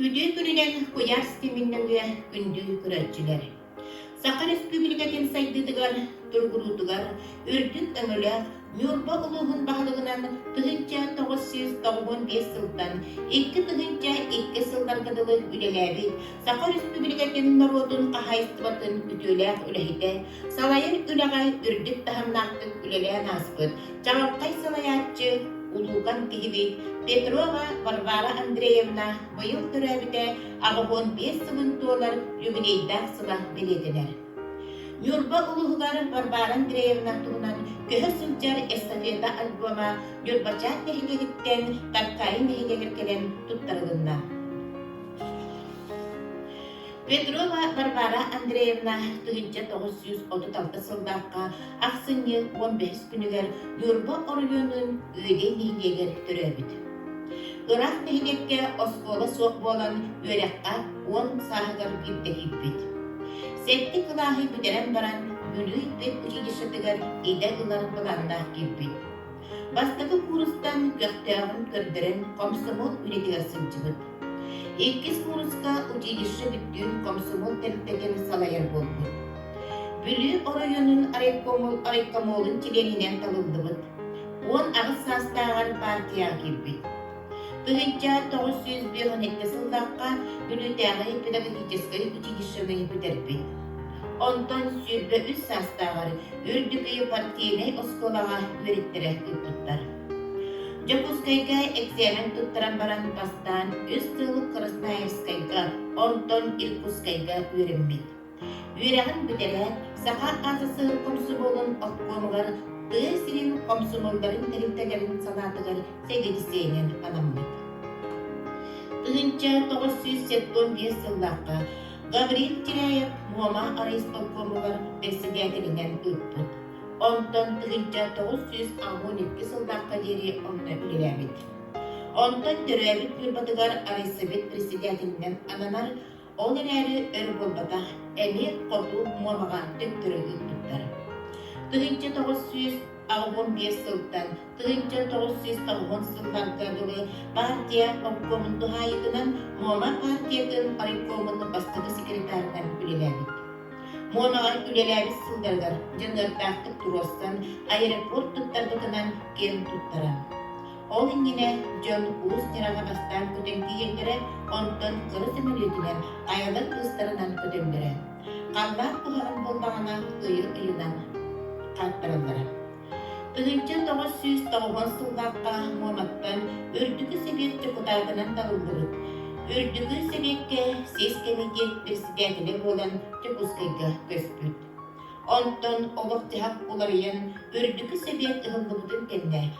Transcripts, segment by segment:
Үтүө күнүнэн куйаар ситиминнэҥҥэ күндү көрөөччүлэр! Саха Өрөспүүбүлүкэтин сайдыытыгар, тургуруутугар үрдүк өҥөлөөх Ньурба улууһун баһылыгынан тыһыынча тоҕус сүүс тоҕуһун биэс сылтан икки тыһыынча икки сылларга дылы үлэлээбит Саха Өрөспүүбүлүкэтин норуотун хаһаайыстыбатын үтүөлээх үлэһитэ, Салайар үлэҕэ үрдүк таһымнаахтык үлэлээн ааспыт Чаҕылхай салайааччы, улуукан киһибит Петрова Варвара Андреевна быйыл төрөөбүтэ аҕыһыан биэс сылын туолар юбилейдаах сыла бэлиэтэнэр. Ньурба улууһугар Варвара Андреевна туһунан көһө сылдьар эстафета альбома Ньурбачаан нэһилиэгиттэн Таккайын нэһилиэгэр кэлэн туттарылынна. Петрова Варвара Андреевна тыһыынча тоҕус сүүс отут алта сыллаахха ахсынньы уон бэһис күнүгэр Ньурба оройуонун Ыыгый нэһилиэгэр төрөөбүт. Ыраах нэһилиэккэ оскуола суох буолан үөрэххэ уон сааһыгар ирдэһиирбит. Сэттэ кылааһы бүтэрэн баран Бүлүү педучилищетыгар идэ ылар былааннаах киирбит. Бастакы куурустан көхтөөҕүн көрдөрөн комсомол үлэтигэр сылдьыбыт. Иккис кууруска училище бүттүүн комсомол тэрилтэтин салайар буолбут. Бүлүү оройуонун райкомолун чилиэнинэн талыллыбыт. Уон аҕыс саастааҕар партияҕа киирбит. Ыһыйдьаан тоҕус сүүс биэс уон икки сыллаахха Бүлүүтээҕи педагогическай училищены бүтэрбит. Онтон сүүрбэ үс саастааҕар Үрдүкү партийнай оскуолаҕа үөрэттэрэ ыыппыттар. Дьокуускайга эксээмэн туттаран баран бастаан үс сыл Красноярскайга, онтон Иркутскайга үөрэммит. Үөрэҕин бүтэрээт, саха АССР комсомолун обкомугар тыа сирин комсомолларын тэрилтэлэрин санаатыгар сэгэдисээнэн анаммыт. Тыһыынча тоҕус сүүс сэттуон биэс сыллаахха Гаврил Тиряев Муома райисполкомугар бэссэдээтэлинэн ыыппыт. Онтон тыһыынча тоҕус сүүс аҕуон икки сыллаахха диэри онно үлэлээбит. Онтон төрөөбүт Ньурбатыгар райсовет председателинэн ананар Ол эрээри өр буолбатах, эмиэ хоту Муомаҕа төттөрү ыыппыттар. Тыһыынча тоҕус сүүс аҕыһын биэс сылтан тыһыынча тоҕус сүүс тоҕуһун сылларга дылы баартыйа обкомун туһаайытынан Муома баартыйатын райкомун бастакы секретарынан үлэлээбит. Муомаҕа үлэлээбит сылларыгар дьаныардаахтык туруорсан аэропорт туттарбытынан киэн туттара. Ол иннинэ дьон уус дьараҕа бастаан көтөн тиийэллэрэ, онтон кыра сөмөлүөтүнэн айалар кыыстарынан көтөллөрө. Халлаан куһаҕан буоллаҕына ыйы ыйынан хаттараллара. Тыһыынча тоҕус сүүс тоҕуон сыллаахха Муоматтан Үрдүкү Сэбиэт дьокутаатынан талыллыбыт. Үрдүкү Сэбиэккэ сис кэмитиэт председателэ буолан Дьокуускайга көспүт. Онтон олох-дьаһах уларыйан Үрдүкү Сэбиэт ыһыллыбытын кэннэ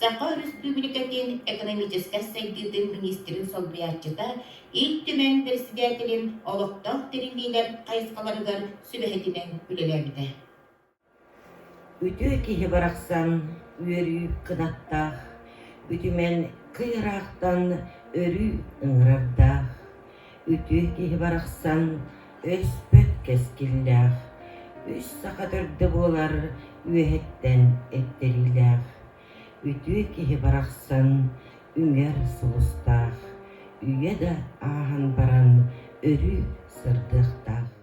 Саха Өрөспүүбүлүкэтин экономическай сайдыытын миниистирин солбуйааччыта Ил Түмэн председателин олохтоох тэриллиилэр хайысхаларыгар сүбэһитинэн үлэлээбитэ. Үтүө киһи барахсан үөрүү кынаттаах, үтүмэн кый ыраахтан өрүү ыҥырардаах. үтүө киһи барахсан өспөт кэскиллээх, үс саха төрдө буолар үөһэттэн эттэриилээх, үтүө киһи барахсан үҥэр сулустаах, үйэ да ааһан баран өрүү сырдыахтаах.